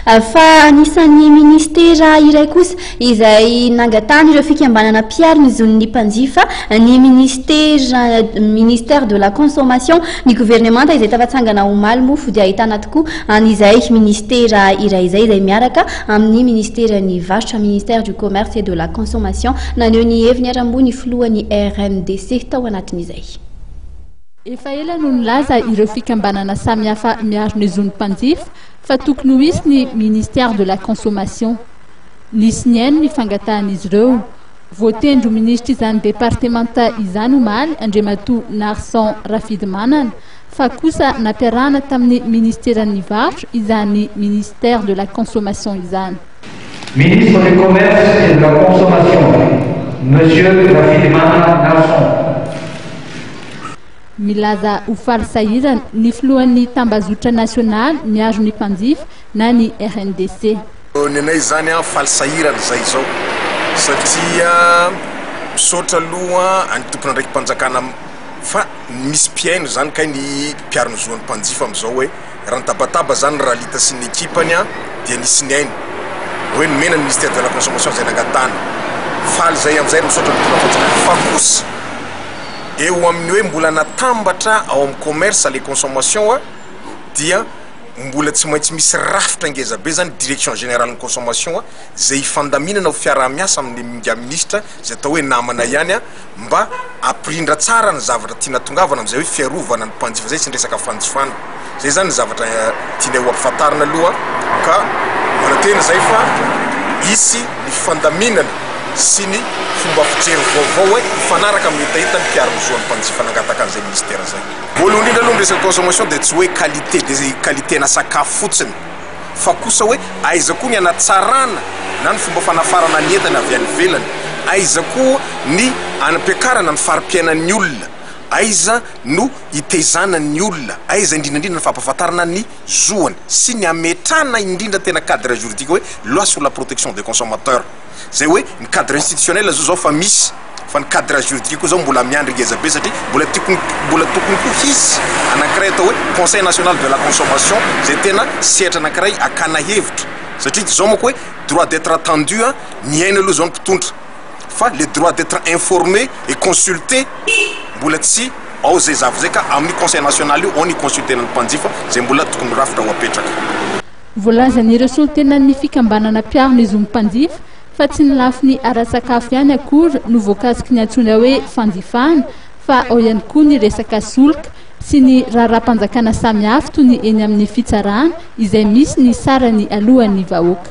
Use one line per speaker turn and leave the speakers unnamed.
Fa anisan'ny minisitera iray kosa izay nangatahan'ireo fikambanana mpiaro ny zon'ny mpanjifa ny minisitera ministère de la consommation ny governemanta izay tafatsangana omaly moa fody ahitana tokoa an'izay minisitera iray izay izay miaraka amin'ny minisiteran'ny varotra ministère du commerce et de la consommation naneho ny heviny haramboa ny filohan'ny RNDC tao anatin'izay
Efa ela no nilaza ireo fikambanana samihafa miaro ny zon'ny mpanjifa fa tokony ho hisy ny Ministère de la Consommation. Nisy nihaino ny fangatahan'izy ireo. Voatendry ho Ministr'izany departemanta izany omaly Andriamatoa Narson Rafidimanana fa kosa nampiarahana tamin'ny Ministeran'ny Varotra izany Ministère de la Consommation izany. Ministre
du Commerce et de la Consommation, Monsieur Rafilimana Nahson.
Milaza ho faly sahirana ny filohan'ny tambazotra nasionaly miaro ny mpanjifa na ny RNDC. Ny anay izany
faly sahirana izay izao satria misaotra aloha ny tompon'andraiki-panjakana fa misy mpihaino izany kay ny mpiaro ny zon'ny mpanjifa amin'izao hoe. Raha nitabataba izany ny Ralita sy ny ekipany dia nisy ny ainy hoe nomena ny Ministère de la Consommation izay nangatahany. Faly izay amin'izay ary misaotra ny Mpanatanteraka. Fa kosa eo amin'ny hoe mbola natambatra ao amin'ny Commerce, le Consommation dia mbola tsy maintsy misy rafitra ngeza be izany Direction Générale ny Consommation izay hifandaminana ho fiaraha-miasa amin'ilay Minisitra izay atao hoe namana ihany. mba hampirindra tsara ny zavatra tiana atongavana amin'izay hoe fiarovana ny mpanjifa izay sy ny resaka fanjifana. Izay izany ny zavatra tianay ho ampifantarina aloha ka manantena izay fa hisy ny fandaminana sy ny fomba fijery vaovao hoe hifanaraka amin'ny hetaheta ny mpiaro ny zon'ny mpanjifa nangataka an'izay minisitera izay. Voalohany indrindra aloha ny resaka consommation dia tsy hoe qualité dia qualité-na sakafo fotsiny. fa kosa hoe aiza koa ny hanatsarana na ny fomba fanafarana ny entana avy any ivelany, aiza koa ny anampiakarana ny fari-piainan'ny olona, aiza no hitezana ny olona, aiza indrindra indrindra ny fampahafantarana ny zoany sy ny hametrahana indrindra tena cadre juridique hoe loi sur la protection des consommateurs. Zay hoe ny cadre institutionnel zao zao fa misy fa ny cadre juridique koa zao mbola miandry ngeza be satria mbola tokony mbola tokony koa hisy anankiray atao hoe conseil national de la consommation zay tena sehatra anankiray akana hevitra satria zao manko hoe droit d'etre attendu a mihaino aloha zao ny mpitondra fa le droit d'etre informé et consulté mbola tsy ao zay zavatra zay ka amin'ny conseil national io ao ny consulter-na ny mpanjifa zay mbola tokony ho rafitra ho apetraka. Voalazan'ireo
solontenan'ny fikambanana mpiaro ny zon'ny mpanjifa fa tsy ny lafiny ara-tsakafo ihany akory no voakasiky ny antsoina hoe fanjifana fa ao ihany koa ny resaka solika sy ny raharaham-panjakana samihafa toy ny eny amin'ny fitsarana izay misy ny sarany alohan'ny vahoaka